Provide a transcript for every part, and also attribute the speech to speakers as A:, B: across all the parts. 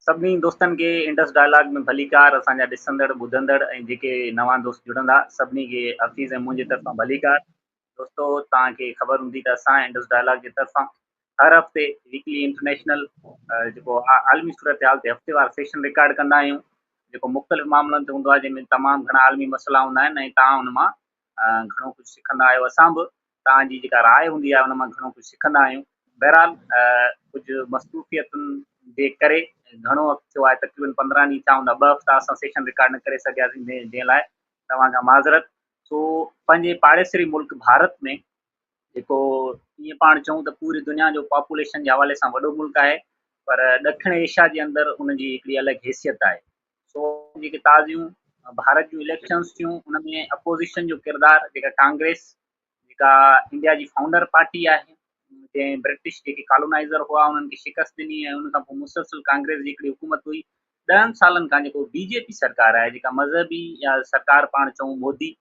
A: سڀني دوستن کي انڊس ڊائلاگ ۾ ڀليڪار اسان جا ڏسندڙ ٻڌندڙ ۽ جيڪي نوان دوست جڙندا سڀني کي حفيظ ۽ منهنجي طرفان ڀليڪار دوستو توهان کي خبر هوندي ته اسان انڊس ڊائلاگ جي طرفان هر هفتي ويڪلي انٽرنيشنل جيڪو عالمي صورتحال تي هفتيوار سيشن رڪارڊ ڪندا آهيون جيڪو مختلف معاملن تي هوندو آهي جنهن ۾ تمام گهڻا عالمي مسئلا هوندا آهن ۽ توهان ان مان گهڻو ڪجهه سکندا آهيو اسان به توهان جي جيڪا راء هوندي آهي ان مان گهڻو ڪجهه سکندا آهيون بهرحال ڪجهه مصروفيتن جي ڪري گهڻو وقت ٿيو آهي تقريبن پندرهن ڏينهن ڇا هوندا ٻه هفتا اسان سيشن رڪارڊ نه ڪري سگهياسين جنهن لاء توهان کان معذرت سو پنهنجي پاڙيسري ملڪ ڀارت ۾ جيڪو ائين پاڻ چون ته پوري دنيا جو پاپوليشن جي حوالي سان وڏو ملڪ آهي پر ڏکڻ ايشيا جي اندر ان جي هڪڙي الڳ حيثيت آهي سو جيڪي تازيون ڀارت جون اليڪشنز ٿيون ان ۾ اپوزيشن جو ڪردار جيڪا ڪانگريس جيڪا انڊيا جي فائونڊر پارٽي آهي جنهن برٽش جيڪي ڪالونائزر هئا انهن کي شڪست ڏني ۽ ان کان پوء مسلسل ڪانگريس جي هڪڙي حڪومت هئي ڏهن سالن کان جيڪو بي جي پي سرڪار آهي جيڪا مذهبي يا سرڪار پاڻ چئون مودي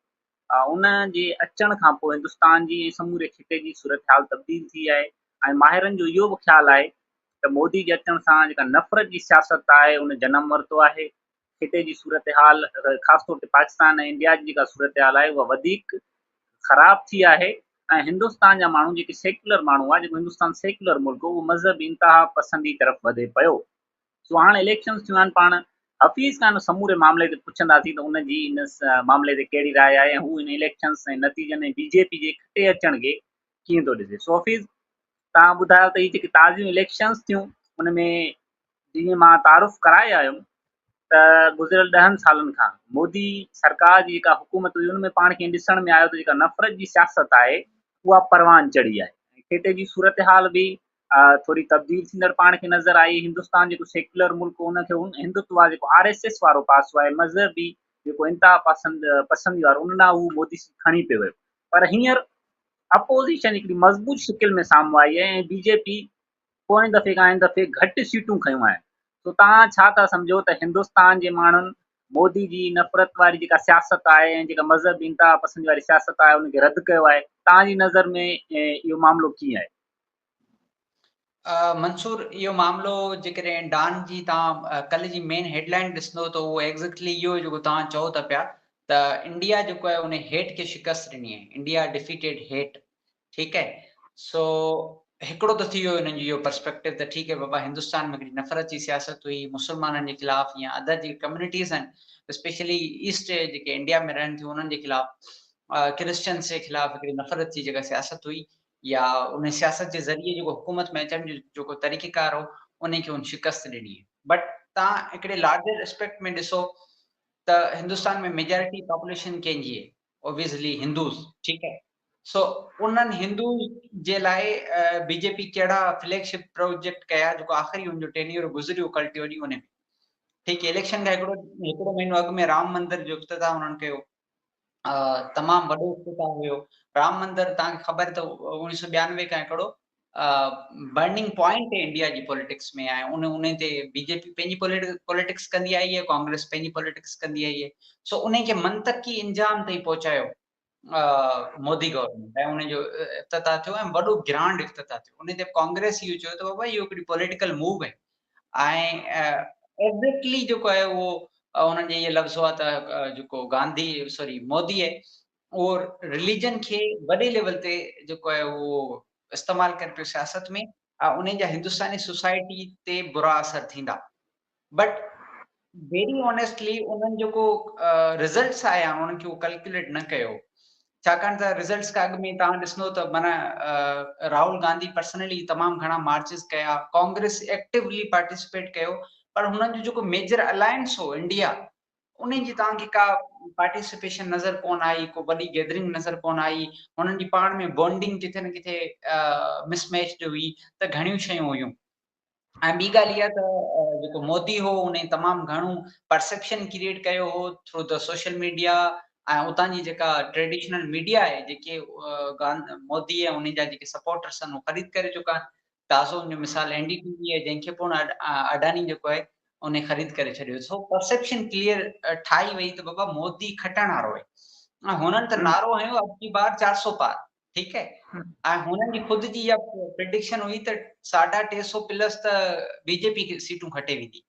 A: ان جي اچڻ کان پوء هندستان جي ۽ سموري خطي جي صورتحال تبديل ٿي آهي ۽ ماهرن جو اهو به خيال آهي ته مودي جي اچڻ سان جيڪا نفرت جي سياست آهي ان جنم ورتو آهي. خطي جي صورتحال خاص طور تي پاڪستان ۽ انڊيا جي جيڪا صورتحال آهي اها وڌيڪ خراب ٿي آهي ۽ هندستان جا ماڻهو جيڪي سيڪيولر ماڻهو هئا جيڪو هندستان سيڪيولر ملڪ هو اهو مذهبي انتها پسندي طرف وڌي پيو. سو هاڻ اليڪشنز ٿيون آهن پاڻ حفيظ کان ان سموري معاملي تي پڇنداسين ته ان جي ان معاملي تي ڪهڙي راء آهي ۽ هو ان اليڪشنز ۽ نتيجن ۽ بي جي پي جي کٽي اچڻ کي ڪيئن ٿو ڏسي سو حفيظ تان ٻڌايو ته هي جيڪي تازيون اليڪشنز ٿيون ان ۾ جيئن مان تعارف ڪرائي آيم ته گذريل ڏهن سالن کان مودي سرڪار جي جيڪا حڪومت هئي ان ۾ پاڻ کي ڏسڻ ۾ آيو ته جيڪا نفرت جي سياست آهي اها پروان چڙهي آهي کيتي جي صورتحال به ٿوري تبديل ٿيندڙ پاڻ کي نظر آئي، هندستان جيڪو سيڪيولر ملڪ هو ان کي هن هندتوا جيڪو آر ايس ايس وارو پاسو آهي مذهبي جيڪو انتها پسند پسندي وارو ان ڏانهن هو مودي سي کڻي پي ويو پر هينئر اپوزيشن هڪڙي مضبوط شڪل ۾ سامهون آئي آهي ۽ بي جي پي پوئين دفعي کان هن دفعي گهٽ سيٽون کنيون آهن سو تان ڇا ٿا سمجهو ته هندستان جي ماڻهن مودي جي نفرت واري جيڪا سياست آهي ۽ جيڪا مذهبي انتها پسندي واري سياست آهي ان کي رد ڪيو آهي تان جي نظر ۾ اهو معاملو ڪيئن آهي
B: منصور اهو معاملو جيڪڏهن ڊان جي توهان ڪلهه جي مين هيڊ لائن ڏسندو ته اهو ايگزيڪٽلي اهو جيڪو توهان چئو ته پيا ته انڊيا جيڪو آهي ان هيٽ کي شڪست ڏني آهي انڊيا ڊيفيٽيڊ هيٽ ٺيڪ آهي سو هڪڙو ته ٿي ويو انهن جو اهو پرسپيڪٽو ته ٺيڪ آهي بابا هندستان ۾ هڪڙي نفرت جي سياست هئي مسلمانن جي خلاف يا ادر جي ڪميونٽيز آهن اسپيشلي ايسٽ جيڪي انڊيا ۾ رهن ٿيون انهن جي خلاف ڪرسچنس جي خلاف هڪڙي نفرت جي جيڪا سياست هئي يا ان سياست جي ذريعي جيڪو حڪومت ۾ اچڻ جو جيڪو طريقه ڪار هو انهي کي هن شڪست ڏني بٽ تان هڪڙي لارجر اسپيڪٽ ۾ ڏسو ته هندوستان ۾ ميجارٽي پاپوليشن ڪنهن جي اوبيسلي هندوز ٺيڪ آهي سو انهن هندوز جي لاء بي جي پي ڪهڙا فليگ شپ پروجيڪٽ ڪيا جيڪو آخري ان جو ٽينيور گذريو ڪلٽيو ڏينهن انهي ۾ ٺيڪ اليڪشن کان هڪڙو هڪڙو مهينو اڳ ۾ رام مندر جو افتتاح انهن ڪيو تمام وڏو افتتاح هيو رام مندر تان خبر ته اوڻيهه سو ٻيانوي کان هڪڙو برننگ پوائنٽ تي انڊيا جي پوليٽڪس ۾ آهي ان ان تي بي جي پي پنهنجي پوليٽڪس ڪندي آئي آهي ڪانگريس پنهنجي پوليٽڪس ڪندي آئي آهي سو ان کي منطقي انجام تائين پهچايو مودي گورنمنٽ ۽ ان جو افتتاح ٿيو ۽ وڏو گرانڊ افتتاح ٿيو ان تي ڪانگريس اهو چيو ته بابا اهو هڪڙي پوليٽيڪل موو آهي ۽ ايگزيڪٽلي جيڪو آهي اهو انهن جي اهي لفظ هئا ته جيڪو گانڌي سوري موديء اهو رليجن کي وڏي ليول تي جيڪو آهي اهو استعمال ڪري پيو سياست ۾ ۽ انهن جا هندستاني سوسائٽي تي برا اثر ٿيندا بٽ ويري آنيسٽلي انهن جيڪو رزلٽس آيا انهن کي ڪلڪيوليٽ نه ڪيو ڇاڪاڻ ته رزلٽس کان اڳ ۾ توهان ڏسندو ته معنيٰ راهول گانڌي پرسنلي تمام گهڻا مارچز ڪيا ڪانگريس ايڪٽيولي پارٽيسپيٽ ڪيو پر هنن جو جيڪو ميجر الائنس هو انڊيا ان جي توهان کي ڪا پارٽيسپيشن نظر ڪون آئي ڪو وڏي گيدرنگ نظر ڪون آئي هنن جي پاڻ ۾ بونڊنگ ڪٿي نه ڪٿي مس ميچ جو هئي ته گهڻيون شيون هيون ۽ ٻي ڳالهه اها ته جيڪو مودي هو ان تمام گهڻو پرسيپشن ڪريئيٽ ڪيو هو ٿرو دي سوشل ميڊيا ۽ اتان جي جيڪا ٽريڊيشنل ميڊيا آهي جيڪي مودي ۽ انهن جا جيڪي سپورٽرس آهن اهو خريد ڪري چڪا آهن تازو ان جو مثال اين ڊي ٽي وي آهي جنهن کي پڻ اڊاني جيڪو آهي ان خريد ڪري ڇڏيو سو پرسيپشن ڪليئر ٺاهي وئي ته بابا مودي کٽڻ وارو آهي هنن ته نعرو هنيو اب جي بار چار سو پار ٺيڪ آهي ۽ هنن جي خود جي اها پريڊڪشن هئي ته ساڍا ٽي سو پلس ته بي جي پي سيٽون کٽي ويندي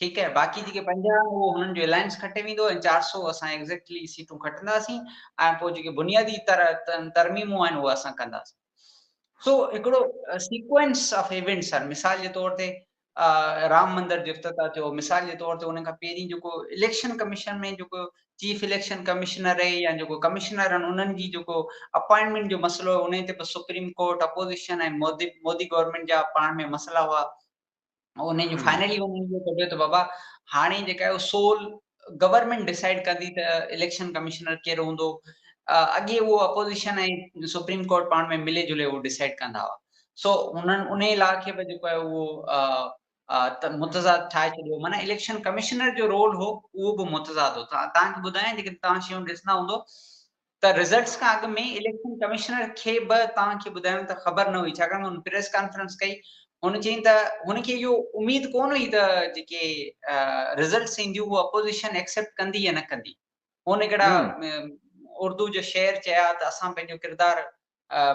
B: ٺيڪ آهي باقي جيڪي پنجاهه اهو هنن جو الائنس کٽي ويندو ۽ چار سو اسان ايگزيڪٽلي سيٽون کٽنداسين ۽ پوء جيڪي بنيادي تر ترميمون آهن اهي اسان ڪنداسين سو هڪڙو سيڪوينس آف ايونٽس آهن مثال جي طور تي رام مندر جو افتتاح ٿيو مثال جي طور تي ان کان پهرين جيڪو اليڪشن ڪميشن ۾ جيڪو چيف اليڪشن ڪمشنر رهي يا جيڪو ڪمشنر آهن انهن جي جيڪو اپائنٽمينٽ جو مسئلو هو انهي تي به supreme court opposition ۽ Modi Modi government جا پاڻ ۾ مسئلا هئا انهن جو فائنلي انهن جو ته بابا هاڻي جيڪا سول گورنمينٽ ڊسائيڊ ڪندي ته اليڪشن ڪمشنر ڪير هوندو، اڳي اهو اپوزيشن ۽ سپريم ڪورٽ پاڻ ۾ ملي جلي اهو ڊسائيڊ ڪندا هئا سو هنن انهي لا کي به جيڪو آهي اهو متضاد ٺاهي ڇڏيو معنيٰ اليڪشن ڪمشنر جو رول هو اهو به متضاد هو تان کي ٻڌايان جيڪڏهن توهان شيون ڏسندا هوندو ته رزلٽس کان اڳ ۾ اليڪشن ڪمشنر کي به توهان کي ٻڌايم ته خبر نه هئي ڇاڪاڻ ته هن پريس ڪانفرنس ڪئي هن چيائين ته هن کي اهو اميد ڪونه هئي ته جيڪي رزلٽس اينديون اهو اپوزيشن ايڪسيپٽ ڪندي يا نه ڪندي هن هڪڙا اردو جو شعر چيا ته اسان پنهنجو ڪردار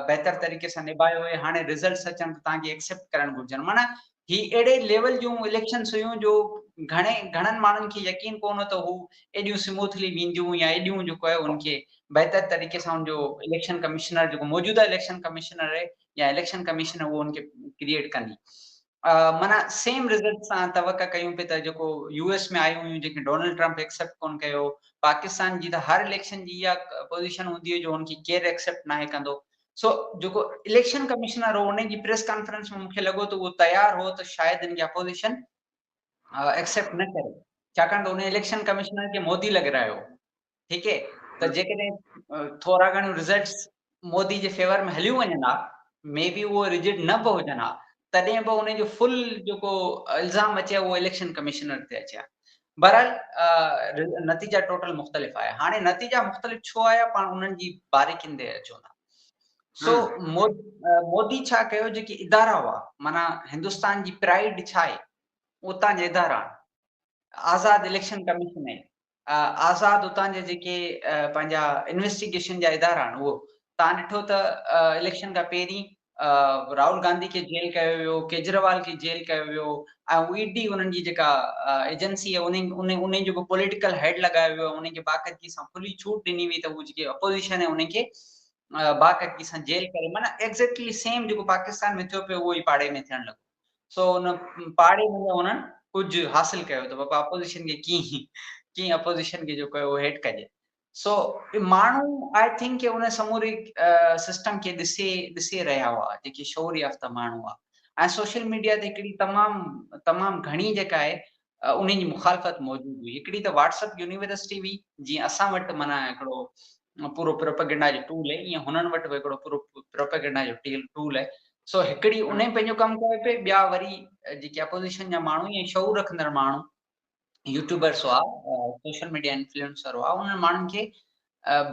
B: بهتر طريقي سان نباهيو هئي هاڻي رزلٽس اچن ته توهان کي ايڪسيپٽ ڪرڻ گهرجن معنيٰ هي اهڙي ليول جون اليڪشنس هيون جو گهڻي گهڻن ماڻهن کي يقين ڪو نه ته هو ايڏيون سموٿلي وينديون يا ايڏيون جو ڪيو ان کي بهتر طريقي سان ان جو اليڪشن ڪمشنر جيڪو موجوده اليڪشن ڪمشنر آهي يا اليڪشن ڪمشن اهو ان کي ڪريئيٽ ڪندي معنيٰ سيم رزلٽ سان توقع ڪيون پئي ته جيڪو يو ايس ۾ آيون هيون جنهن کي ڊونلڊ ٽرمپ ايڪسيپٽ ڪون ڪيو پاڪستان جي ته هر اليڪشن جي اها پوزيشن هوندي هئي جو ان کي ڪير ايڪسيپٽ ناهي ڪندو سو جيڪو اليڪشن ڪمشنر هو ان جي پريس ڪانفرنس ۾ مون کي لڳو ته اهو تيار هو ته شايد ان کي اپوزيشن ايڪسيپٽ نه ڪري ڇاڪاڻ ته ان اليڪشن ڪمشنر کي مودي لڳرايو ٺيڪ اهي ته جيڪڏهن ٿورا گهڻيون رزلٽس مودي جي فيور ۾ هليون وڃن ها مي بي اهو رجڊ نه به هجن ها تڏهن به ان جو فل جيڪو الزام اچي اهو اليڪشن ڪمشنر تي اچي ها بهرحال نتيجا ٽوٽل مختلف آيا هاڻي نتيجا مختلف ڇو آيا پاڻ انهن جي باريڪين تي اچون ٿا سو مودي ڇا ڪيو جيڪي ادارا هئا مانا هندستان جي پرائڊ ڇا آهي اتان جي ادارا آزاد اليڪشن ڪميشن آهي آزاد اتان جا جيڪي پنهنجا انويسٽيگيشن جا ادارا آهن اهو تان ڏٺو ته اليڪشن کان پهرين راهول گانڌي کي جيل ڪيو ويو ڪيجريوال کي جيل ڪيو ويو ۽ اي ڊي انهن جي جيڪا ايجنسي آهي انهن انهن انهن جو به پوليٽيڪل هيڊ لڳايو ويو انهن کي باقاعدگي سان کلي ڇوٽ ڏني وئي ته هو جيڪي اپوزيشن آهي انهن کي باقاعدگي سان جيل ڪري معنی ايگزيڪٽلي سيم جيڪو پاڪستان ۾ ٿيو پيو اهو ئي پاڙي ۾ ٿيڻ لڳو سو ان پاڙي ۾ انهن ڪجهه حاصل ڪيو ته بابا اپوزيشن کي ڪيئن ڪيئن اپوزيشن کي جيڪو اهو هيٺ ڪجي سو ماڻهو آئي ٿنڪ ڪي ان سموري سسٽم کي ڏسي ڏسي رهيا هئا جيڪي شعور يافته ماڻهو هئا ۽ سوشل ميڊيا تي هڪڙي تمام تمام گهڻي جيڪا آهي انهن جي مخالفت موجود هئي. هڪڙي ته واٽس اپ يونيورسٽي هئي، جيئن اسان وٽ معنيٰ هڪڙو پورو پروپئگنڊا جو ٽول آهي، ايئن هنن وٽ به هڪڙو پورو پروپئگنڊا جو ٽول آهي. سو هڪڙي انهن پنهنجو ڪم ڪيو پئي، ٻيا وري جيڪي اپوزيشن جا ماڻهو ۽ شعور رکندڙ ماڻهو، يوٽيوبرس هئا، سوشل ميڊيا انفلوئنسر هئا، انهن ماڻهن کي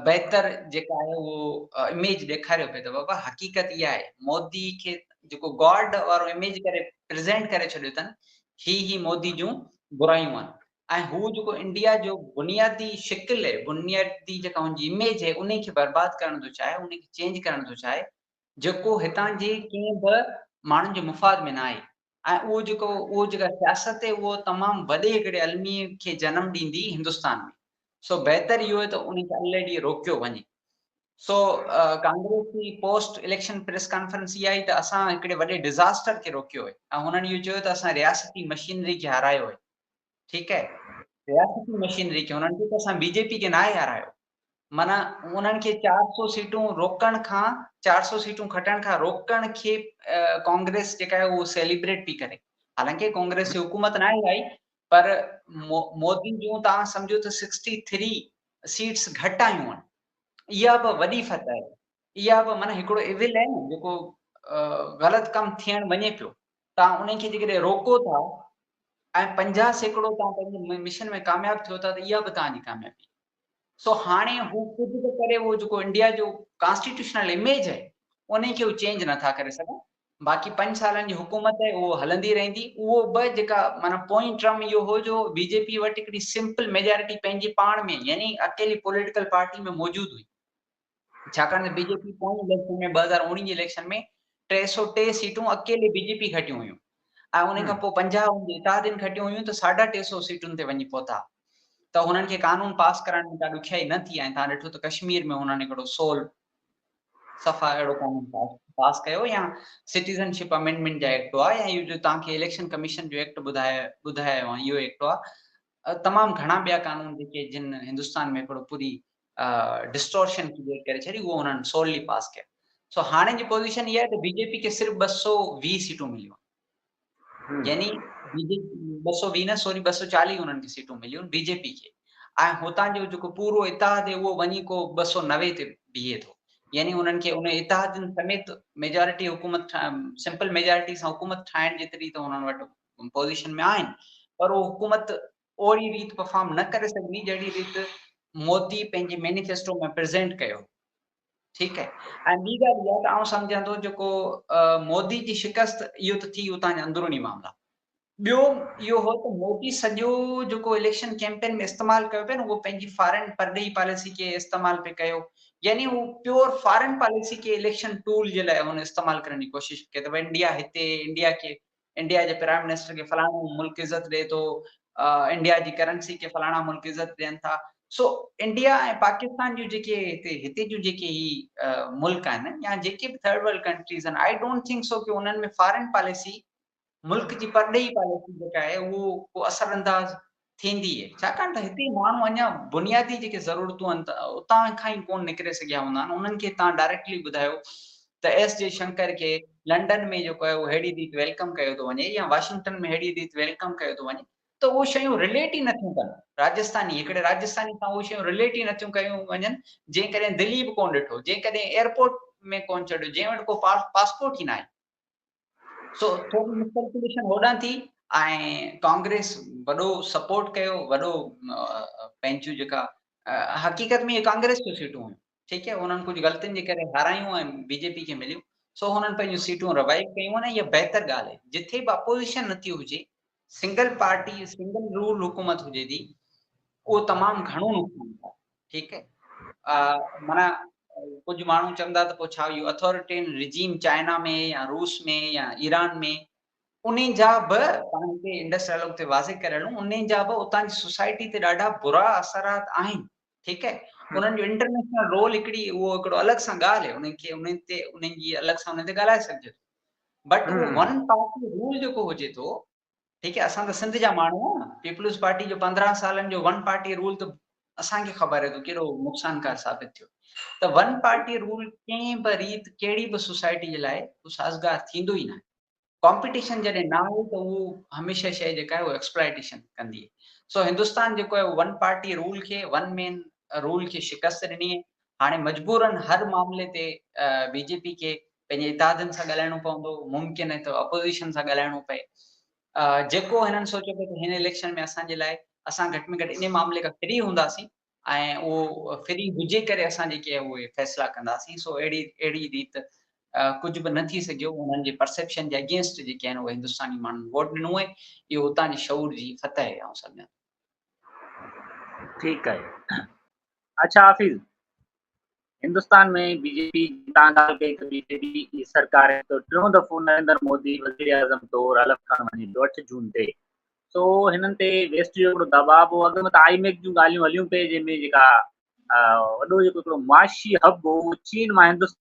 B: بهتر جيڪا آهي اهو اميج ڏيکاريو پئي ته بابا حقيقت اها آهي مودي کي جيڪو گاڊ وارو اميج ڪري پريزينٽ ڪري ڇڏيو اٿن هي هي مودي جون برايون آهن ۽ هو جيڪو انڊيا جو بنيادي شڪل بنيادي جيڪا هن جي اميج آهي انهي کي برباد ڪرڻ ٿو چاهي انهي کي چينج ڪرڻ ٿو چاهي جيڪو هتان جي ڪنهن به ماڻهن جي مفاد ۾ ناهي ۽ اهو جيڪو اهو جيڪا سياست اهو تمام وڏي هڪڙي الميي کي جنم ڏيندي هندستان ۾، سو بهتر اهو آهي ته ان کي الهي ڏينهن روڪيو وڃي. سو ڪانگريس جي پوسٽ اليڪشن پريس ڪانفرنس اها آهي ته اسان هڪڙي وڏي ڊزاسٽر کي روڪيو آهي ۽ هنن اهو چيو ته اسان رياستي مشينري کي هارايو آهي ٺيڪ آهي رياستي مشينري کي هنن چيو ته اسان بي جي پي کي ناهي هارايو معنيٰ انهن کي چار سؤ سيٽون روڪڻ کان چار سؤ سيٽون کٽڻ کان روڪڻ کي ڪانگريس جيڪا آهي اهو سيليبريٽ پئي ڪري حالانڪه ڪانگريس جي حڪومت ناهي آئي پر مودي جون توهان سمجهو ته سڪسٽي ٿري سيٽس گهٽ آيون آهن اها به وڏي فتح آهي اها به معنيٰ هڪڙو ايول آهي نه جيڪو غلط ڪم ٿيڻ وڃي پيو توهان انهن کي جيڪڏهن روڪو ٿا ۽ پنجاهه سيڪڙو توهان پنهنجي مشن ۾ ڪامياب ٿيو ٿا ته اها به توهان جي ڪاميابي سو هاڻي هو ڪجهه به ڪري اهو جيڪو انڊيا جو ڪانسٽيٽيوشنل اميج آهي انهي کي هو چينج نه ٿا ڪري سگهن باقي پنج سالن جي حڪومت آهي اهو هلندي رهندي اهو به جيڪا معنيٰ پوئين ٽرم اهو هو جو بي جي پي وٽ هڪڙي سمپل ميجارٽي پنهنجي پاڻ ۾ يعني اڪيلي پوليٽيڪل پارٽي ۾ موجود هئي ڇاڪاڻ ته بي جي پي پوئين اليڪشن ۾ ٻه هزار اوڻيهه جي اليڪشن ۾ ٽي سؤ ٽي سيٽون اڪيلي بي جي پي کٽيون هيون ۽ ان کان پوء پنجاهه هن جي اتحادين کٽيون هيون ته ساڍا ٽي سؤ سيٽن تي وڃي پهتا ته هنن کي قانون پاس ڪرائڻ ۾ ڪا ڏکيائي نه ٿي ۽ تان ڏٺو ته ڪشمير ۾ هنن هڪڙو سول صفا اهڙو قانون پاس پاس ڪيو يا سٽيزن شپ امينڊمينٽ جا ايڪٽ هئا يا اهو جو تان کي اليڪشن ڪميشن جو ايڪٽ ٻڌايو ٻڌايو اهو ايڪٽ هئا اهي تمام گهڻا ٻيا قانون جيڪي جن هندستان ۾ هڪڙو پوري ڊسٽورشن ڪريئيٽ ڪري ڇڏي اهو انهن سوللي پاس ڪيا سو هاڻي جي پوزيشن اها آهي ته بي جي پي کي صرف ٻه سو ويهه سيٽون مليون يعني بي جي ٻه سو ويهه نه سوري ٻه سو چاليهه انهن کي سيٽون مليون بي جي پي کي ۽ هتان جو جيڪو پورو اتحاد اهو وڃي ڪو ٻه سو نوي تي بيهي ٿو يعني انهن کي ان اتحادين سميت ميجارٽي حڪومت سمپل ميجارٽي سان حڪومت ٺاهڻ جيتري ته انهن وٽ پوزيشن ۾ آهن پر اهو حڪومت اهڙي ريت پرفارم نه ڪري سگهندي جهڙي ريت مودي پنهنجي مينيفيسٽو ۾ پريزينٽ ڪيو ٺيڪ آهي ۽ ٻي ڳالهه اها ته آئون سمجهان ٿو جيڪو مودي جي شڪست اهو ته ٿي اتان جا اندروني معاملا ٻيو اهو هو ته مودي سڄو جيڪو اليڪشن ڪيمپين ۾ استعمال ڪيو پيو نه اهو پنهنجي فارن پرڏيهي پاليسي کي استعمال پي ڪيو يعني هو پيور فارن پاليسي کي اليڪشن ٽول جي لاء هن استعمال ڪرڻ جي ڪوشش ڪي ته انڊيا هتي انڊيا کي انڊيا جي پرائيم منسٽر کي فلاڻو ملڪ عزت ڏئي ٿو، انڊيا جي ڪرنسي کي فلاڻا ملڪ عزت ڏين ٿا، سو انڊيا ۽ پاڪستان جون جيڪي هتي هتي جون جيڪي هي ملڪ آهن يا جيڪي به ٿرڊ ورلڊ ڪنٽريز آهن آئي ڊونٽ ٿنڪ سو ڪي انهن ۾ فارين پاليسي ملڪ جي پرڏيهي پاليسي جيڪا آهي اهو ڪو اثر انداز ٿيندي ڇاڪاڻ ته هتي ماڻهو اڃا بنيادي جيڪي ضرورتون آهن اتان کان ئي ڪون نڪري سگهيا هوندا آهن انهن کي تان ڊائريڪٽلي ٻڌايو ته ايس جي شنڪر کي لنڊن ۾ جيڪو آهي اهو ههڙي ريت ويلڪم ڪيو ٿو وڃي يا واشنگٽن ۾ ههڙي ريت ويلڪم ڪيو ٿو وڃي ته اهو شيون رليٽ ئي نٿيون ڪن راجسٿاني هڪڙي راجسٿاني سان اهو شيون رليٽ ئي نٿيون ڪيون وڃن جنهن ڪڏهن دلي به ڪون ڏٺو جنهن ڪڏهن ايئرپورٽ ۾ ڪون چڙهيو جنهن وٽ ڪو پاسپورٽ ئي ناهي سو ٿوري مسپيلڪيليشن هوڏانهن ٿي ۽ ڪانگريس وڏو سپورٽ ڪيو وڏو پنهنجون جيڪا حقيقت ۾ ڪانگريس جون سيٽون هيون ٺيڪ آهي انهن ڪجهه غلطين جي ڪري هارايون ۽ بي جي پي کي مليون سو هنن پنهنجون سيٽون روائو ڪيون ۽ اها بهتر ڳالهه آهي جتي به اپوزيشن نٿي هجي سنگل پارٽي سنگل رول حڪومت هجي ٿي اهو تمام گهڻو نقصان ٿا ٺيڪ آ معنيٰ ڪجهه ماڻهو چوندا ته پوء ڇا اهو اٿاريٽين رجيم چائنا ۾ يا روس ۾ يا ايران ۾ انهي جا به پاڻ هتي انڊس ڊائلاگ تي واضح ڪري هلون انهي جا به اتان جي سوسائٽي تي ڏاڍا برا اثرات آهن ٺيڪ آهي انهن جو انٽرنيشنل رول هڪڙي اهو هڪڙو الڳ سان ڳالهه آهي انهن کي انهن تي انهن جي الڳ سان انهن تي ڳالهائي سگهجي ٿو بٽ ون پارٽي رول جيڪو هجي ٿو ٺيڪ آهي اسان ته سنڌ جا ماڻهو آهيون پيپلز پارٽي جو پندرهن سالن جو ون پارٽي رول ته اسان کي خبر آهي ته ڪيڏو نقصانڪار ثابت ٿيو ته ون پارٽي رول ڪنهن به ريت ڪهڙي به سوسائٽي جي لاء سازگار ٿيندو ئي نه آهي ڪمپيٽيشن جڏهن نه آهي ته اهو هميشه شيء جيڪا آهي اهو ايڪسپلائيٽيشن ڪندي سو هندستان جيڪو آهي ون پارٽي رول کي ون مين رول کي شڪست ڏني هاڻي مجبوراً هر معاملي تي بي جي پي کي پنهنجي اتحادين سان ڳالهائڻو پوندو، ممڪن آهي ته اپوزيشن سان ڳالهائڻو پئي. جيڪو هنن سوچيو پئي ته هن اليڪشن ۾ اسان جي لاء اسان گهٽ ۾ گهٽ انهي معاملي کان فري هونداسين ۽ اهو فري هجي ڪري اسان جيڪي اهي فيصلا ڪنداسين سو اهڙي اهڙي ريت ڪجهه به نه ٿي سگهيو، انهن جي پرسيپشن جي اگينسٽ جيڪي آهن اهي هندستاني ماڻهن ووٽ ڏنو ۽ اهو اتان جي شعور جي فتح آهي آئون سمجهان ٿو.
A: ٺيڪ آهي اڇا حافظ هندستان ۾ بي جي پي تان ڳالهه ڪئي ته بي جي پي جي سرڪار جو ٽيون دفعو نريندر مودي وزير اعظم طور حلف کڻڻ وڃي ٿو اٺ جون تي سو هنن تي ويسٽ جو هڪڙو دباء هو اڳ ۾ ته آئي ميڪ جون ڳالهيون هليون پئي جنهن ۾ جيڪا وڏو جيڪو هڪڙو معاشي هب هو چين مان هندستان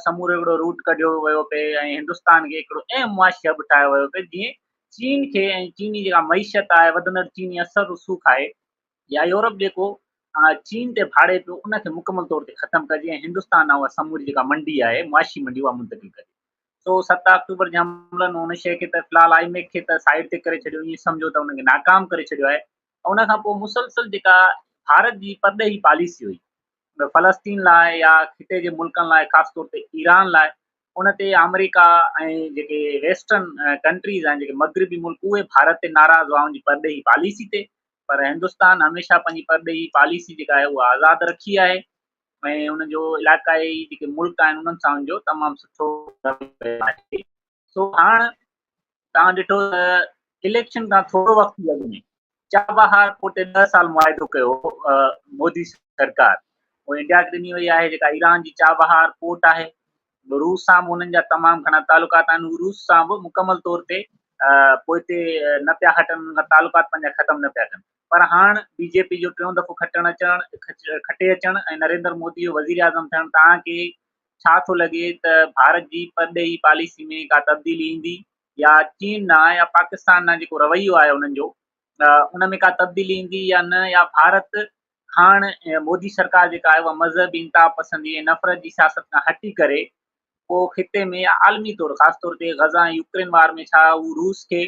A: سمورو هڪڙو روٽ ڪڍيو ويو پئي ۽ هندستان کي هڪڙو اهم معاشي هب ٺاهيو ويو پئي جيئن چين کي ۽ چيني جيڪا معيشت آهي وڌندڙ چيني اثر رسوخ آهي يا يورپ جيڪو چين تي ڀاڙي پيو ان کي مڪمل طور تي ختم ڪجي ۽ هندستان ڏانهن اها سموري جيڪا منڊي آهي معاشي منڊي اها منتقل ڪجي سو ست آڪٽوبر جي حملن ان شيء کي ته في الحال آئي ميڪ کي ته سائيڊ تي ڪري ڇڏيو ائين سمجهو ته ان کي ناڪام ڪري ڇڏيو آهي ان کان پوء مسلسل جيڪا ڀارت جي پرڏيهي پاليسي هئي فلسطين لاء يا خطي جي ملڪن لاء خاص طور تي ايران لاء ان تي آمريڪا ۽ جيڪي ويسٽرن ڪنٽريز آهن جيڪي مغربي ملڪ اهي ڀارت تي ناراض هئا ان جي پرڏيهي پاليسي تي پر هندستان هميشه پنهنجي پرڏيهي پاليسي جيڪا آهي اها آزاد رکي آهي ۽ ان جو علاقائي جيڪي ملڪ آهن انهن سان ان جو تمام سٺو رويو رهيو آهي سو هاڻ توهان ڏٺو ته اليڪشن کان ٿورو وقت اڳ ۾ چابهار پوٽي ڏهه سال معاهدو ڪيو مودي سرڪار هو انڊيا کي ڏني وئي آهي جيڪا ايران جي چابهار پورٽ آهي روس سان به انهن جا تمام گهڻا تعلقات آهن روس سان به مڪمل طور تي پوئتي نه پيا هٽن ان کان تعلقات پنهنجا ختم نه پيا ڪن پر هاڻ بي جي پي جو ٽيون دفعو کٽڻ اچڻ کٽي اچڻ ۽ نريندر مودي جو وزير اعظم ٿيڻ توهان کي ڇا ٿو لڳي ته ڀارت جي پرڏيهي پاليسي ۾ ڪا تبديلي ايندي يا چين ڏانهن يا پاڪستان ڏانهن جيڪو رويو آهي انهن جو ان ۾ ڪا تبديلي ايندي يا نه يا ڀارت هاڻ مودي سرڪار جيڪا آهي اها مذهبي انتها پسندي ۽ نفرت جي سياست کان هٽي ڪري پوء خطي ۾ يا عالمي طور خاص طور تي غزا ۽ يوڪرين وار ۾ ڇا هو روس کي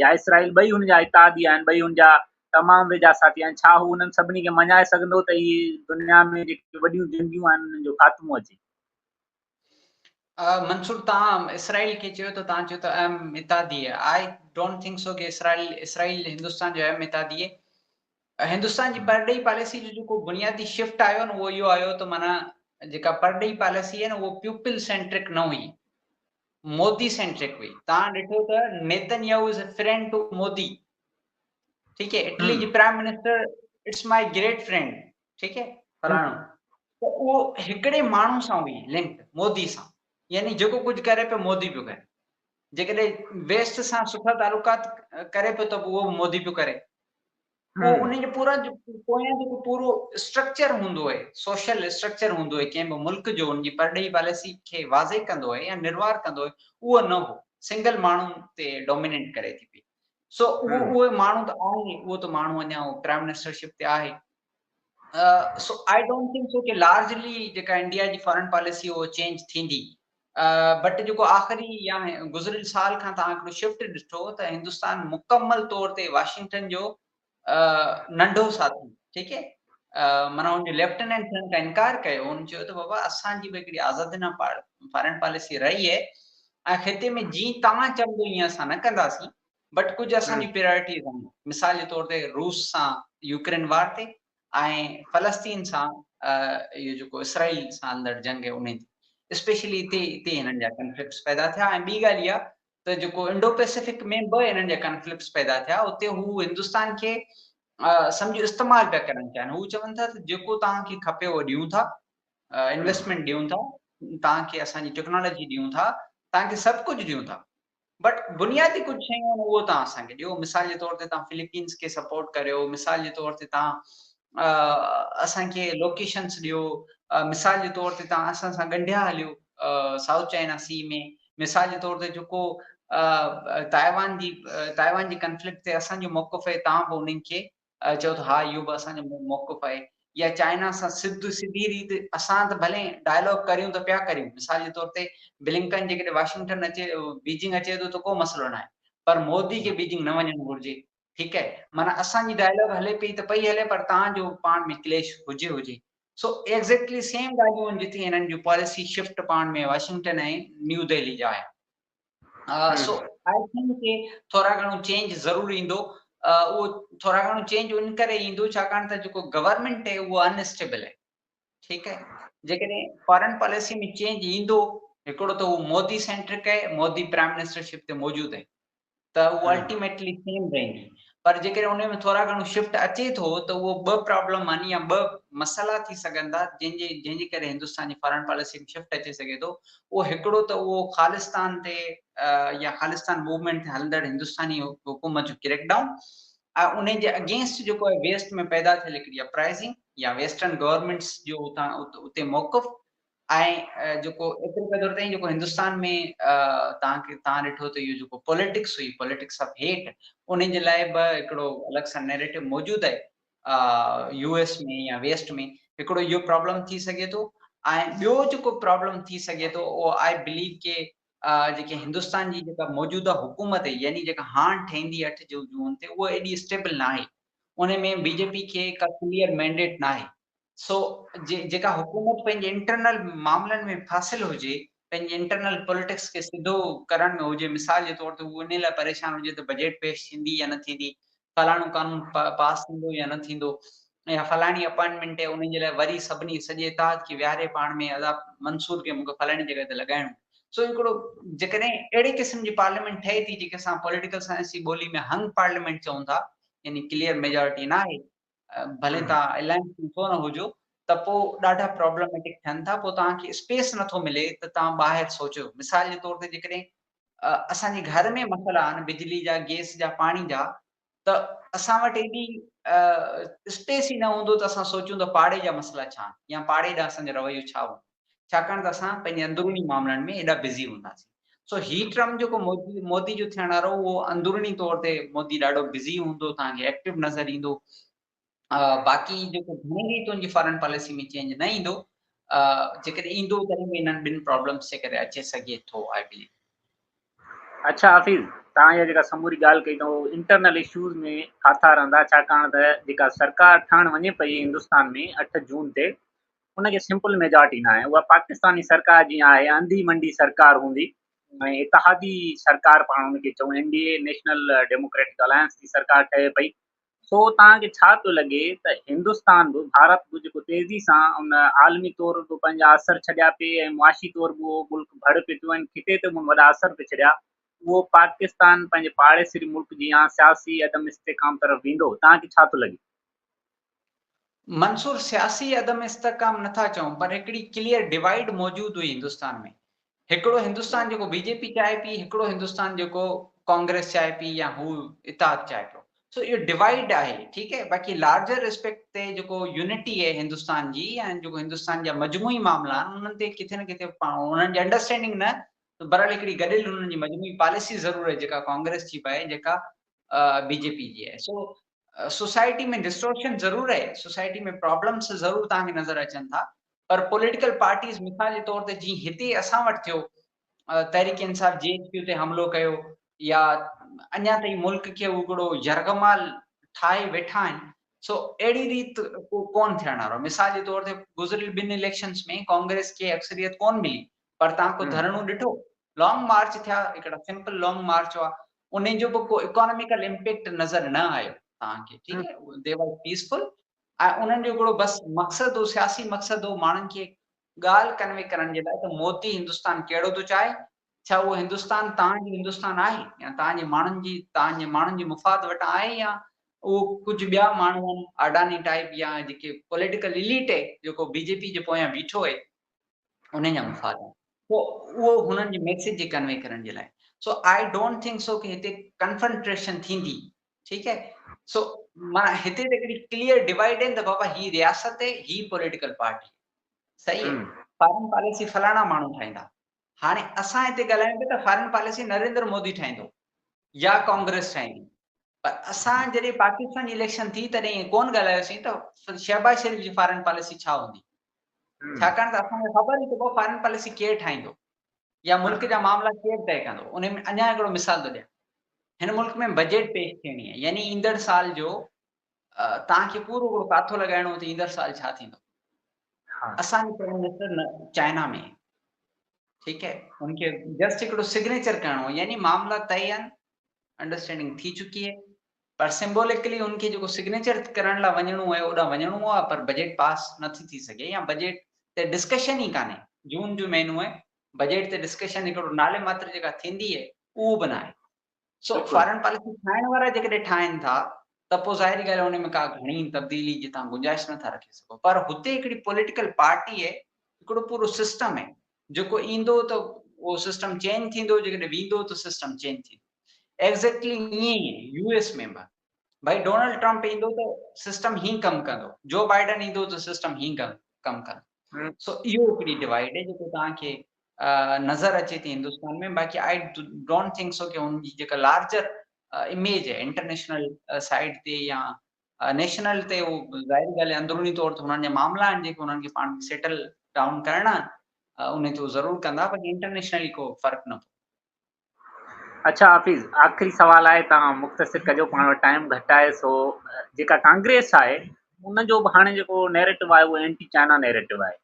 A: يا اسرائيل ٻئي هن جا اتحادي آهن، ٻئي هن جا تمام ويجها ساٿي آهن، ڇا هو انهن سڀني کي مڃائي سگهندو ته اهي دنيا ۾ جيڪي وڏيون جنگيون آهن انهن جو خاتمو اچي؟
B: منصور توهان اسرائيل کي چيو ته توهان چيو ته اهم اتحادي آهي، آء ڊونٽ ٿنڪ سو ڪي اسرائيل اسرائيل هندستان جو اهم اتحادي آهي، هندستان جي پرڏيهي پاليسي جو جيڪو بنيادي شفٽ آيو نه اهو اهو آيو ته معنيٰ جيڪا پرڏيهي پاليسي هئي نه اهو پيوپل سينٽرڪ نه هئي، مودي سينٽرڪ هئي توهان ڏٺو ته Netanyahu is a friend to Modi ٺيڪ هي اٽلي جي prime minister it's my great friend ٺيڪ هي فلاڻو ته اهو هڪڙي ماڻهو سان هئي لنڪ مودي سان يعني جيڪو ڪجهه ڪري پيو مودي پيو ڪري جيڪڏهن ويسٽ سان سٺا تعلقات ڪري پيو ته اهو مودي پيو ڪري پوء انهن جو پورا پويان جيڪو پورو اسٽرڪچر هوندو آهي، سوشل اسٽرڪچر هوندو آهي ڪنهن به ملڪ جو ان جي پرڏيهي پاليسي کي واضح ڪندو آهي يا نروار ڪندو آهي اهو نه هو، سنگل ماڻهو تي ڊومينيٽ ڪري ٿي پئي. سو اهو اهو ماڻهو ته آهي، اهو ته ماڻهو اڃا پرائم منسٽر شپ تي آهي. سو آء ڊونٽ ٿنڪ سو ڪي لارجلي جيڪا انڊيا جي فارن پاليسي اهو چينج ٿيندي. بٽ جيڪو آخري يا گذريل سال کان توهان هڪڙو شفٽ ڏٺو ته هندستان مڪمل طور تي واشنگٽن جو ننڍو ساٿي ٺيڪ هي معنيٰ ان جو ليفٽيننٽ ٿيڻ کان انڪار ڪيو ان چيو ته بابا اسان جي به هڪڙي آزادي نه فارن پاليسي رهي هي ۽ خطي ۾ جي توهان چوندو ائين اسان نه ڪنداسين بٽ ڪجهه اسان جي پريارٽيز آهن مثال جي طور تي روس سان يوڪرين وار تي ۽ فلسطين سان اهو جيڪو اسرائيل سان هلندڙ جنگ هي انهي تي اسپيشلي اتي اتي هنن جا ڪنفلڪٽس پيدا ٿيا ۽ ٻي ڳالهه اها ته جيڪو انڊو پئسفڪ ۾ به هنن جا ڪنفلڪٽس پيدا ٿيا اتي هو هندستان کي سمجهو استعمال پيا ڪرڻ چاهن هو چون ٿا ته جيڪو توهان کي کپي اهو ڏيون ٿا انويسٽمينٽ ڏيون ٿا توهان کي اسان جي ٽيڪنالاجي ڏيون ٿا توهان کي سڀ ڪجهه ڏيون ٿا بٽ بنيادي ڪجهه شيون آهن اهو توهان اسان کي ڏيو مثال جي طور تي توهان فلپينس کي سپورٽ ڪريو مثال جي طور تي توهان اسان کي لوڪيشنس ڏيو مثال جي طور تي توهان اسان سان ڳنڍيا هليو سائوٿ چائنا سی ۾ مثال جي طور تي جيڪو تائيوان جي تائيوان جي ڪنفلڪٽ تي اسان جو موقف آهي توهان به انهن کي چئو ته ها اهو به اسان جو موقف آهي يا چائنا سان سڌ سڌي ريت اسان ته ڀلي ڊائلاگ ڪريون ته پيا ڪريون مثال جي طور تي بلنڪن جيڪڏهن واشنگٽن اچي بيجنگ اچي ٿو ته ڪو مسئلو ناهي پر مودي کي بيجنگ نه وڃڻ گهرجي ٺيڪ آهي معنيٰ اسان جي ڊائلاگ هلي پئي ته پئي هلي پر تان جو پاڻ ۾ ڪليش هجي هجي سو ايگزيڪٽلي سيم ڳالهيون آهن جتي هنن جون پاليسي شفٽ پاڻ ۾ واشنگٽن ۽ نيو دهلي جا آهن سو آئي ٿنڪ ڪي ٿورا گهڻو چينج ضرور ايندو اهو ٿورا گهڻو چينج ان ڪري ايندو ڇاڪاڻ ته جيڪو گورنمينٽ آهي اهو ان اسٽيبل آهي ٺيڪ آهي جيڪڏهن فارن پاليسي ۾ چينج ايندو هڪڙو ته هو مودي سينٽرڪ آهي مودي پرائم منسٽرشپ تي موجود آهي ته اهو الٽيميٽلي سيم رهندي پر جيڪڏهن ان ۾ ٿورا گهڻو شفٽ اچي ٿو ته اهو ٻه پرابلم يعني يا ٻه مسئلا ٿي سگهن ٿا جن جي جنهن جي ڪري هندستان جي فارن پاليسي ۾ شفٽ اچي سگهي ٿو اهو هڪڙو ته اهو خالستان تي يا خالستان موومينٽ تي هلندڙ هندستاني حڪومت جو ڪريڪ ڊائون ۽ ان جي اگينسٽ جيڪو ويسٽ ۾ پيدا ٿيل هڪڙي اپرائزنگ يا ويسٽرن گورنمينٽس جو اتي موقف آهي جيڪو ايتري قدر تائين جيڪو هندستان ۾ توهان کي توهان ڏٺو ته اهو جيڪو پوليٽڪس هئي پوليٽڪس آف هيٽ ان جي لاء به هڪڙو الڳ سان نيريٽو موجود آهي يو ايس ۾ يا ويسٽ ۾ هڪڙو اهو پرابلم ٿي سگهي ٿو ۽ ٻيو جيڪو پرابلم ٿي سگهي ٿو اهو آء بليو ڪي جيڪي هندستان جي جيڪا موجوده حڪومت يعني جيڪا هاڻ ٺهندي اٺ جون جون تي اهو ايڏي اسٽيبل ناهي ان ۾ بي جي پي کي ڪا ڪليئر مينڊيٽ ناهي سو جيڪا حڪومت پنهنجي انٽرنل معاملن ۾ ڦاسيل هجي پنهنجي انٽرنل پوليٽڪس کي سڌو ڪرڻ ۾ هجي مثال جي طور تي هو انهي لاء پريشان هجي ته بجيٽ پيش ٿيندي يا نه ٿيندي فلاڻو قانون پاس ٿيندو يا نه ٿيندو يا فلاڻي اپائنٽمينٽ ان جي لاء وري سڀني سڄي اتحاد کي ويهاري پاڻ ۾ ادا منصور کي مون کي فلاڻي جڳهه تي لڳائڻو سو هڪڙو جيڪڏهن اهڙي قسم جي پارليامينٽ ٺهي ٿي جيڪي اسان پوليٽيڪل سائنس جي ٻولي ۾ هنگ پارليامينٽ چئون ٿا يعني ڪليئر ميجارٽي ناهي ڀلي تان الائنس ۾ ڇو نه هجو ته پو ڏاڍا پرابلميٽڪ ٿين ٿا پو تان کي اسپيس نٿو ملي ته تان ٻاهر سوچو مثال جي طور تي جيڪڏهن اسان جي گهر ۾ مسئلا آهن بجلي جا گيس جا پاڻي جا ته اسان وٽ ايڏي اسپيس ئي نه هوندو ته اسان سوچون ته پاڙي جا مسئلا ڇا آهن يا پاڙي ڏانهن اسان جو رويو ڇا هوندو ڇاڪاڻ ته اسان پنهنجي اندروني معاملن ۾ ايڏا بزي هونداسين سو هي ٽرمپ جيڪو مودي جو ٿيڻ وارو اهو اندروني طور تي مودي ڏاڍو بزي هوندو توهان کي ايڪٽو نظر ايندو باقي جيڪو گهڻي ريتون جي فارن پاليسي ۾ چينج نه ايندو جيڪڏهن ايندو تڏهن به انهن ٻن پرابلمس جي ڪري اچي سگهي ٿو آء بليو
A: اچھا حافظ توهان جا جيڪا سموري ڳالهه ڪئي اٿو انٽرنل اشوز ۾ ڦاٿا رهندا ڇاڪاڻ ته جيڪا سرڪار ٺهڻ وڃي پئي هندستان ۾ اٺ جون تي ان کي سمپل ميجارٽي نه آهي اها پاڪستاني سرڪار جيئن آهي انڌي منڊي سرڪار هوندي ۽ اتحادي سرڪار پاڻ ان کي چون N D A National Democratic Alliance جي سرڪار ٺهي پئي سو توهان کي ڇا ٿو لڳي ته هندستان به ڀارت به جيڪو تيزي سان ان عالمي طور به پنهنجا اثر ڇڏيا پئي ۽ معاشي طور به اهو ملڪ ڀڙ پئي ٿيو ۽ خطي تي به وڏا اثر پئي ڇڏيا اهو پاڪستان پنهنجي پاڙيسري ملڪ جيان سياسي عدم استحڪام طرف ويندو توهان کي ڇا ٿو لڳي؟ منصور
B: سياسي عدم استحڪام نه ٿا چئون پر هڪڙي ڪليئر ڊوائيڊ موجود هئي هندستان ۾ هڪڙو هندستان جيڪو بي جي پي چاهي پي هڪڙو هندستان جيڪو ڪانگريس چاهي پي يا هو اتحاد چاهي پيو سو اهو ڊوائيڊ آهي ٺيڪ آهي باقي لارجر اسپيڪٽ تي جيڪو يونٽي آهي هندستان جي يا جيڪو هندستان جا مجموعي معاملا آهن انهن تي ڪٿي نه ڪٿي انهن جي انڊرسٽينڊنگ نه برحال هڪڙي گڏيل انهن جي مجموعي پاليسي ضرور آهي جيڪا ڪانگريس جي به آهي جيڪا بي جي پي جي آهي سو سوسائٽي ۾ ڊسٽورشن ضرور رهي، سوسائٽي ۾ پرابلمس ضرور توهان کي نظر اچن ٿا پر پوليٽيڪل پارٽيز مثال جي طور تي جيئن هتي اسان وٽ ٿيو تحريڪ انصاف جي ايڇ پيو تي حملو ڪيو يا اڃا تائين ملڪ کي هڪڙو يرغمال ٺاهي ويٺا آهن سو اهڙي ريت ڪون ٿيڻ وارو مثال جي طور تي گذريل ٻن اليڪشنز ۾ ڪانگريس کي اڪثريت ڪون ملي پر تان ڪو ڌرڻو ڏٺو لانگ مارچ ٿيا هڪڙا سمپل لانگ مارچ هئا انهن جو به ڪو اڪاناميڪل امپيڪٽ نظر نه آيو توهان کي ٺيڪ آهي دي وار پيسفل ۽ انهن جو هڪڙو بس مقصد هو سياسي مقصد هو ماڻهن کي ڳالهه ڪنوي ڪرڻ جي لاء ته مودي هندستان ڪهڙو ٿو چاهي ڇا اهو هندستان توهان جو هندستان آهي يا توهان جي ماڻهن جي توهان جي ماڻهن جي مفاد وٽان آهي يا اهو ڪجهه ٻيا ماڻهو آهن اڊاني ٽائيپ يا جيڪي پوليٽيڪل اليٽ آهي جيڪو بي جي پي جي پويان بيٺو آهي انهن جا مفاد آهن سو اهو هنن جي ميسيج جي ڪنوي ڪرڻ جي لاء سو آء ڊونٽ ٿنڪ سو ڪي هتي ڪنفرنٽريشن ٿيندي ٺيڪ آهي سو مانا هتي ته هڪڙي ڪليئر ڊيوائيڊ آهن ته بابا هي رياست آهي هي پوليٽيڪل پارٽي صحيح آهي فارن پاليسي فلاڻا ماڻهو ٺاهيندا هاڻي اسان هتي ڳالهايون پيا ته فارين پاليسي نريندر مودي ٺاهيندو يا ڪانگريس ٺاهيندي پر اسان جڏهن پاڪستان جي اليڪشن ٿي تڏهن ائين ڪونه ڳالهايوسين ته شهباز شريف جي فارين پاليسي ڇا هوندي ڇاڪاڻ ته اسان کي خبر ئي ڪو فارين پاليسي ڪير ٺاهيندو يا ملڪ جا معاملا ڪير طئي ڪندو ان ۾ اڃا هڪڙو مثال ٿو ڏيان هن ملڪ ۾ بجيٽ پيش ٿيڻي آهي يعني ايندڙ سال جو توهان کي پورو هڪڙو ڪاٿو لڳائڻو ته ايندڙ سال ڇا ٿيندو. اسان جي پرائيم منسٽر چائنا ۾ ٺيڪ آهي ان کي جسٽ هڪڙو سگنيچر ڪرڻو يعني معاملا طئي آهن انڊرسٽينڊنگ ٿي چڪي آهي پر سمبوليڪلي ان کي جيڪو سگنيچر ڪرڻ لاء وڃڻو آهي اوڏا وڃڻو آهي پر بجيٽ پاس نه ٿي ٿي سگهي يا بجيٽ تي ڊسڪشن ئي ڪانهي جون جو مهينو آهي بجيٽ تي ڊسڪشن هڪڙو نالي ماتر جيڪا ٿيندي آهي اهو به نه آهي سو فارن پاليسي ٺاهڻ وارا جيڪڏهن ٺاهين ٿا ته پوء ظاهري ڳالهه ان ۾ ڪا گهڻي تبديلي جي توهان گنجائش نٿا رکي سگهو پر هتي هڪڙي پوليٽيڪل پارٽي اهي هڪڙو پورو سسٽم اهي جيڪو ايندو ته اهو سسٽم چينج ٿيندو جيڪڏهن ويندو ته سسٽم چينج ٿيندو ايگزيڪٽلي ائين ئي يو ايس ۾ به ڀائي ڊونلڊ ٽرمپ ايندو ته سسٽم هي ڪم ڪندو جو بائيڊن ايندو ته سسٽم هي ڪم ڪندو سو اهو هڪڙي ڊوائيڊ آهي جيڪو توهان کي نظر اچي ٿي هندستان ۾ باقي آئي ڊونٽ ٿنڪ سو ڪي هن جي جيڪا لارجر اميج آهي انٽرنيشنل سائيڊ تي يا نيشنل تي هو ظاهري ڳالهه آهي اندروني طور تي هنن جا معاملا آهن جيڪي هنن کي پاڻ سيٽل ڊائون ڪرڻا ان تي هو ضرور ڪندا باقي انٽرنيشنلي ڪو فرق نه پوندو
A: اڇا حافظ آخري سوال آهي تهان مختصر ڪجو پاڻ وٽ ٽائيم گهٽ آهي سو جيڪا ڪانگريس آهي ان جو به هاڻي جيڪو نيريٽو آهي اهو اينٽي چائنا نيريٽو آهي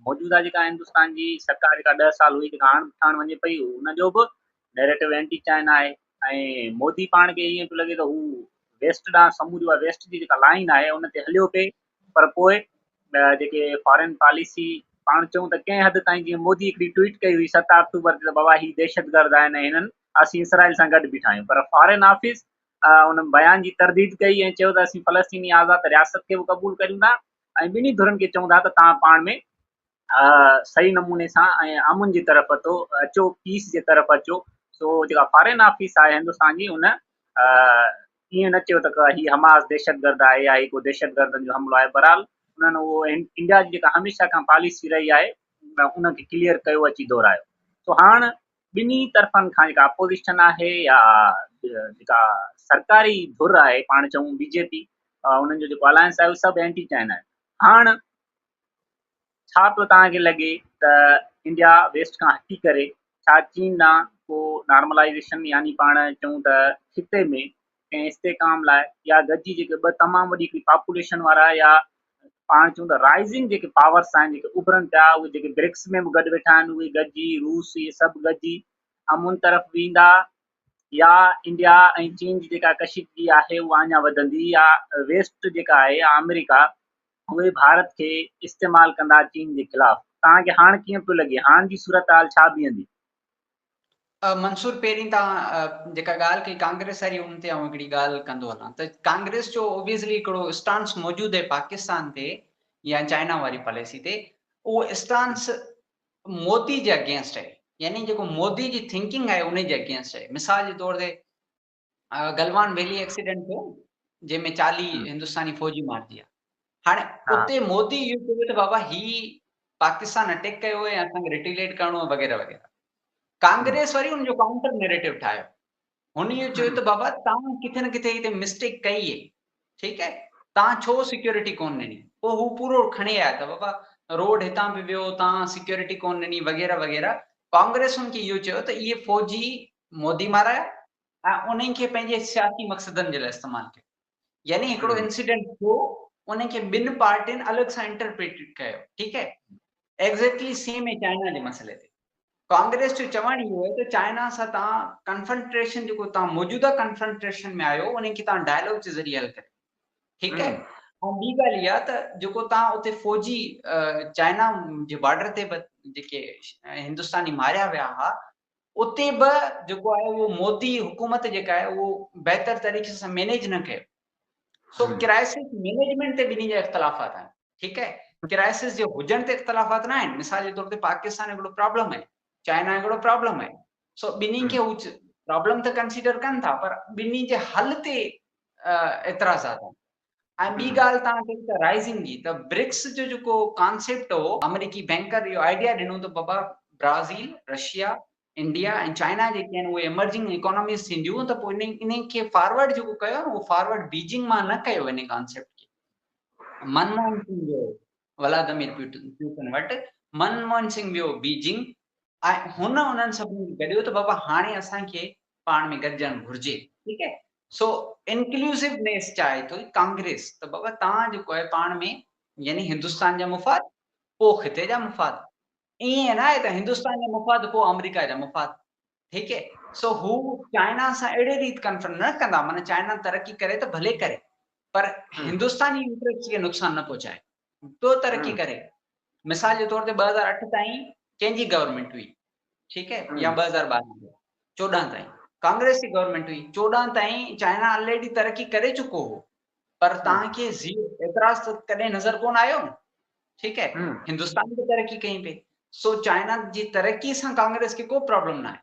A: موجوده جيڪا هندستان جي سرڪار جيڪا ڏهه سال هئي جيڪا هاڻ ٺاهڻ وڃي پئي ان جو به نيريٽو اينٽي چائنا آهي ۽ مودي پاڻ کي ائين پيو لڳي ته هو ويسٽ ڏانهن سموري ويسٽ جي جيڪا لائن آهي ان تي هليو پئي پر پوء جيڪي فارين پاليسي پاڻ چئون ته ڪنهن حد تائين جيئن مودي هڪڙي ٽوئيٽ ڪئي هئي ست آڪٽوبر تي ته بابا هي دهشتگرد آهن ۽ هنن اسين اسرائيل سان گڏ بيٺا آهيون پر فارين آفيس ان بيان جي ترديد ڪئي ۽ چيو ته اسين فلسطيني آزاد رياست کي به قبول ڪريون ٿا ۽ ٻنهي ڌرين کي چئون ٿا ته توهان پاڻ ۾ صحيح نموني سان ۽ امن جي طرف اچو اچو پيس جي طرف اچو سو جيڪا فارين آفيس آهي هندستان جي ان ائين نه چيو ته هي حماس دهشتگرد آهي يا هي ڪو دهشتگردن جو حملو آهي بهرحال انهن اهو انڊيا جي جيڪا هميشه کان پاليسي رهي آهي ان کي ڪليئر ڪيو اچي دهرايو سو هاڻ ٻنهي طرفن کان جيڪا اپوزيشن آهي يا جيڪا سرڪاري ڌر آهي پاڻ چون بي جي پي انهن جو جيڪو الائنس آهي اهو سڀ اينٽي چائنا آهن هاڻ ڇا پيو توهان کي لڳي ته انڊيا ويسٽ کان هٽي ڪري ڇا چين ڏانهن ڪو نارملائيزيشن يعني پاڻ چئون ته خطي ۾ ڪنهن استحڪام لاء يا گڏجي جيڪي ٻه تمام وڏي هڪڙي پاپوليشن وارا يا پاڻ چئون ته رائزنگ جيڪي پاورس آهن جيڪي اڀرن پيا اهي جيڪي برڪس ۾ به گڏ ويٺا آهن اهي گڏجي روس اهي سڀ گڏجي امن طرف ويندا يا انڊيا ۽ چين جي جيڪا ڪشيدگي آهي اها اڃا وڌندي يا ويسٽ جيڪا آهي آمريڪا اهي ڀارت کي استعمال ڪندا چين جي خلاف. توهان کي هاڻ ڪيئن پيو لڳي؟ هاڻ جي صورتحال ڇا بيهندي؟
B: منصور پهرين توهان جيڪا ڳالهه ڪئي ڪانگريس واري ان تي آئون هڪڙي ڳالهه ڪندو هلان ته ڪانگريس جو اوبيسلي هڪڙو اسٽانس موجود آهي پاڪستان تي يا چائنا واري پاليسي تي اهو اسٽانس مودي جي اگينسٽ آهي يعني جيڪو مودي جي ٿنڪنگ آهي انهي جي اگينسٽ آهي مثال جي طور تي گلوان ويلي ايڪسيڊنٽ ٿيو جنهن ۾ چاليهه هندستاني فوجي مارجي ويا هاڻي اتي مودي اهو چيو ته بابا هي پاڪستان اٽيڪ ڪيو ۽ اسان کي ريٽيليٽ ڪرڻو آهي وغيره وغيره ڪانگريس وري ان جو ڪائونٽر نيريٽو ٺاهيو هن اهو چيو ته بابا تان کٿي نه کٿي هتي مسٽيڪ ڪئي هي ٺيڪ هي تان ڇو سيڪيورٽي ڪون ڏني پو هو پورو کڻي آيا ته بابا روڊ هتان به ويو تان سيڪيورٽي ڪون ڏني وغيره وغيره ڪانگريس هن کي اهو چيو ته اهي فوجي مودي مارايا ۽ انهن کي پنهنجي سياسي مقصدن جي لاء استعمال ڪيو يعني هڪڙو انسيڊنٽ ٿيو انهن کي ٻن پارٽين الڳ سان انٽرپريٽيڊ ڪيو ٺيڪ آهي ايگزيڪٽلي سيم اي چائنا جي مسئلي تي ڪانگريس جو چوڻ اهو آهي ته چائنا سان تان ڪنفرنٽريشن جيڪو تان موجوده ڪنفرنٽريشن ۾ آيو انهن کي تان ڊائلاگ جي ذريعي حل ڪريو ٺيڪ آهي ۽ ٻي ڳالهه اها ته جيڪو تان اتي فوجي چائنا جي بارڊر تي به جيڪي هندستاني ماريا ويا ها اتي به جيڪو آهي اهو مودي حڪومت جيڪا آهي اهو بهتر طريقي سان مينيج نه ڪيو سو ڪرائسس مينيجمينٽ تي ٻنهي جا اختلافات آهن ٺيڪ آهي ڪرائسس جي هجڻ تي اختلافات نه آهن مثال جي طور تي پاڪستان هڪڙو پرابلم آهي چائنا هڪڙو پرابلم آهي سو ٻنهي کي هو پرابلم ته ڪنسيڊر ڪن ٿا پر ٻنهي جي حل تي اعتراضات آهن ۽ ٻي ڳالهه توهان چئي ته رائزنگ جي ته برڪس جو جيڪو ڪانسيپٽ هو آمريڪي بينڪر اهو آئيڊيا ڏنو ته بابا برازيل، رشيا، انڊيا ۽ چائنا جيڪي آهن اهي ايمرجنگ ايڪاناميز ٿينديون ته پوء انهي کي فارورڊ جيڪو ڪيو آهي اهو فارورڊ بيجنگ مان نه ڪيو انهي ڪانسيپٽ کي. منموهن سنگهه جو ولادمير پيوٽن وٽ، من موهن سنگهه ويو بيجنگ ۽ هن انهن سڀني کي گڏيو ته بابا هاڻي اسان کي پاڻ ۾ گڏجڻ گهرجي ٺيڪ آهي سو انڪليوسو نيس چاهي ٿو ڪانگريس ته بابا توهان جيڪو آهي پاڻ ۾ يعني هندستان جا مفاد پوء خطي جا مفاد ائين نه آهي ته هندستان جا مفاد پوء آمريڪا جا مفاد ٺيڪ اهي سو هو چائنا سان اهڙي ريت ڪنفرنٽ نه ڪندا معنيٰ چائنا ترقي ڪري ته ڀلي ڪري پر هندستاني انٽريسٽ کي نقصان نه پهچائي پيو ترقي ڪري مثال جي طور تي ٻه هزار اٺ تائين ڪنهن جي گورنمينٽ هئي ٺيڪ اهي يا ٻه هزار ٻارهن چوڏهن تائين ڪانگريس جي گورنمينٽ هئي چوڏهن تائين چائنا آلريڊي ترقي ڪري چڪو هو پر توهان کي زيرو اعتراض ته ڪڏهن نظر ڪونه آيو نه ٺيڪ آهي هندستان به ترقي ڪئي پئي سو چائنا جي ترقي سان ڪانگريس کي ڪو پرابلم نه آهي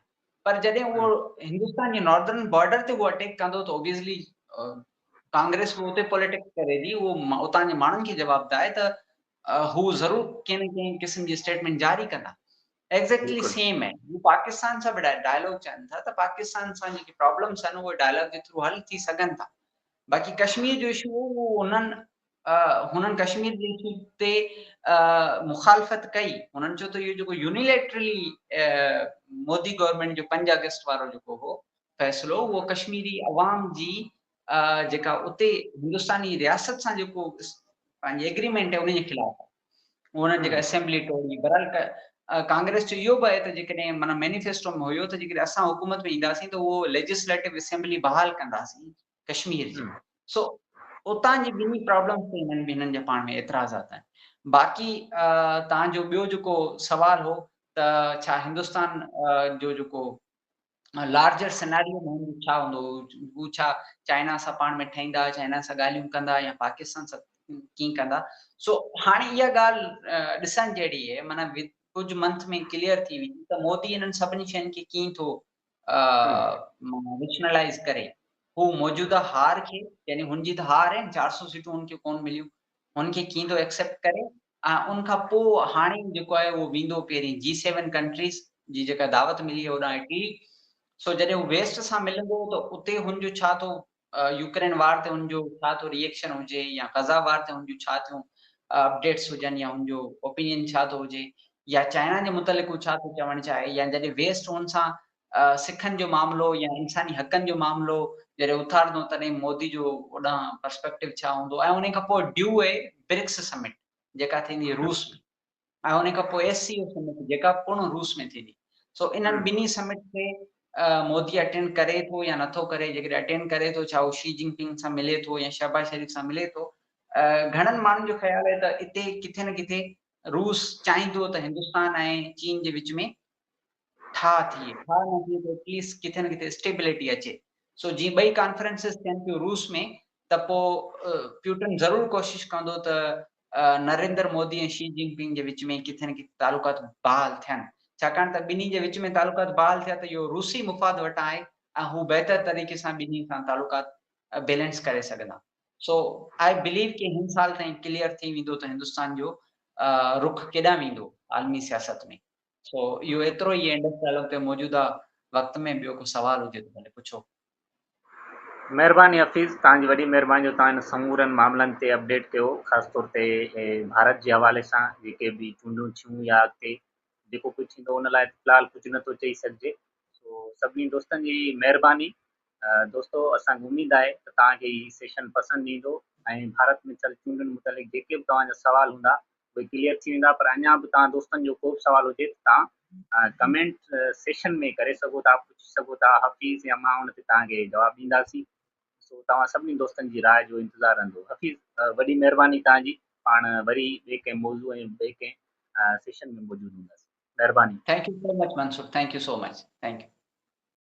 B: پر جڏهن اهو هندستان جي ناردرن بارڊر تي اهو اٽيڪ ڪندو ته اوبيسلي ڪانگريس به اتي پوليٽڪس ڪري ٿي اهو اتان جي ماڻهن کي جواب ده آهي ته هو ضرور ڪنهن نه ڪنهن قسم جي اسٽيٽمنٽ جاري ڪندا ايگزيڪٽلي سيم آهن هو پاڪستان سان به ڊائلاگ چون ٿا ته پاڪستان سان جيڪي پرابلمس آهن اهي ڊائلاگ جي ٿرو حل ٿي سگهن ٿا باقي ڪشمير جو اشو هو اهو انهن هنن ڪشمير جي اشو تي مخالفت ڪئي هنن چيو ته اهو جيڪو يونيليٽرلي مودي گورنمينٽ جو پنج آگسٽ وارو جيڪو هو فيصلو اهو ڪشميري عوام جي جيڪا اتي هندستاني رياست سان جيڪو پنهنجي ايگريمينٽ آهي ان جي خلاف آهي انهن جيڪا اسيمبلي ٽوڙي برحال ڪانگريس جو اهو به آهي ته جيڪڏهن معنيٰ مينيفيسٽو ۾ هيو ته جيڪڏهن اسان حڪومت ۾ اينداسين ته اهو ليجسليٽو اسيمبلي بحال ڪنداسين ڪشمير جي سو اتان جي ٻنهي پرابلمز تي هنن هنن جا پاڻ ۾ اعتراضات آهن باقي تان جو ٻيو جيڪو سوال هو ته ڇا هندستان جو جيڪو لارجر سيناريو ۾ هوندو ڇا هوندو هو ڇا چائنا سان پاڻ ۾ ٺهيندا چائنا سان ڳالهيون ڪندا يا پاڪستان سان ڪيئن ڪندا سو هاڻي اها ڳالهه ڏسڻ جهڙي هي معنيٰ ڪجهه منٿ ۾ ڪليئر ٿي ويندي ته مودي انهن سڀني شين کي ڪيئن ٿو ريشنلائز ڪري هو موجوده هار کي يعني هن جي ته هار آهن چار سو سيٽون هن کي ڪون مليون هن کي ڪيئن ٿو ايڪسيپٽ ڪري ۽ ان کان پوء هاڻي جيڪو آهي اهو ويندو پهرين جي سيون ڪنٽريز جي جيڪا دعوت ملي هي هوڏانهن اٽلي سو جڏهن هو ويسٽ سان ملندو ته اتي هن جو ڇا ٿو يوڪرين وار تي هن جو ڇا ٿو ري ايڪشن هجي يا غزا وار تي هن جون ڇا ٿيون اپڊيٽس هجن يا هن جو اوپينين ڇا ٿو هجي يا چائنا جي متعلق هو ڇا ٿو چوڻ چاهي يا جڏهن ويسٽ هن سان سکن جو معاملو يا انساني حقن جو معاملو جڏهن اٿارندو تڏهن مودي جو اوڏانهن پرسپيڪٽو ڇا هوندو ۽ انهي کان پوء ڊيو اي برڪس سمٽ جيڪا ٿيندي روس ۾ ۽ انهي کان پوء ايس سي او سمٽ جيڪا پڻ روس ۾ ٿيندي سو انهن ٻنهي سمٽ کي مودي اٽينڊ ڪري ٿو يا نٿو ڪري جيڪڏهن اٽينڊ ڪري ٿو ڇا هو شي جن پنگ سان ملي ٿو يا شهباز شريف سان ملي ٿو گهڻن ماڻهن جو خيال آهي ته اتي ڪٿي نه ڪٿي روس چاهيندو ته هندستان ۽ چين جي وچ ۾ ٺاهه ٿئي، ٺاهه نه ٿئي ته ايٽ ليسٽ ڪٿي نه ڪٿي اسٽيبليٽي اچي. سو جي ٻئي ڪانفرنسز ٿين ٿيون روس ۾ ته پوء پيوٽن ضرور ڪوشش ڪندو ته نريندر مودي ۽ شي جين پنگ جي وچ ۾ ڪٿي نه ڪٿي تعلقات بحال ٿين، ڇاڪاڻ ته ٻنهي جي وچ ۾ تعلقات بحال ٿيا ته اهو روسي مفاد وٽان آهي ۽ هو بهتر طريقي سان ٻنهي سان تعلقات بيلنس ڪري سگهندا. سو آء بليو ڪي هن سال تائين ڪليئر ٿي ويندو ته هندستان جو رخ ڪيڏانهن ويندو عالمي سياست ۾. سو اهو ايترو ئي انڊس ڊائلاگ تي موجوده وقت ۾ ٻيو ڪو سوال هجي ته ڀلي پڇو.
A: مهرباني حفيظ، توهان جي وڏي مهرباني جو توهان ان سمورن معاملن تي اپڊيٽ ڪيو، خاص طور تي ڀارت جي حوالي سان جيڪي به چونڊون ٿيون يا اڳتي جيڪو ڪجهه ٿيندو ان لاء في الحال ڪجهه نه ٿو چئي سگهجي، سو سڀني دوستن جي مهرباني. دوستو اسان کي اميد آهي ته توهان کي هي سيشن پسند ايندو ۽ ڀارت ۾ ٿيل چونڊن متعلق جيڪي به توهان جا سوال هوندا اهي ڪليئر ٿي ويندا پر اڃان به توهان دوستن جو ڪوبه سوال هجي ته توهان ڪمينٽ سيشن ۾ ڪري سگهو ٿا پڇي سگهو ٿا حفيظ يا مان ان تي توهان کي جواب ڏينداسين سو توهان سڀني دوستن جي راء جو انتظار رهندو حفيظ وڏي مهرباني توهان جي پاڻ وري ٻئي ڪنهن موضوع ۽ ٻئي ڪنهن
B: سيشن
A: ۾
B: موجود هونداسين
A: مهرباني. Thank
B: you so much
A: Mansoor
B: thank you
A: so
B: much
A: thank
B: U.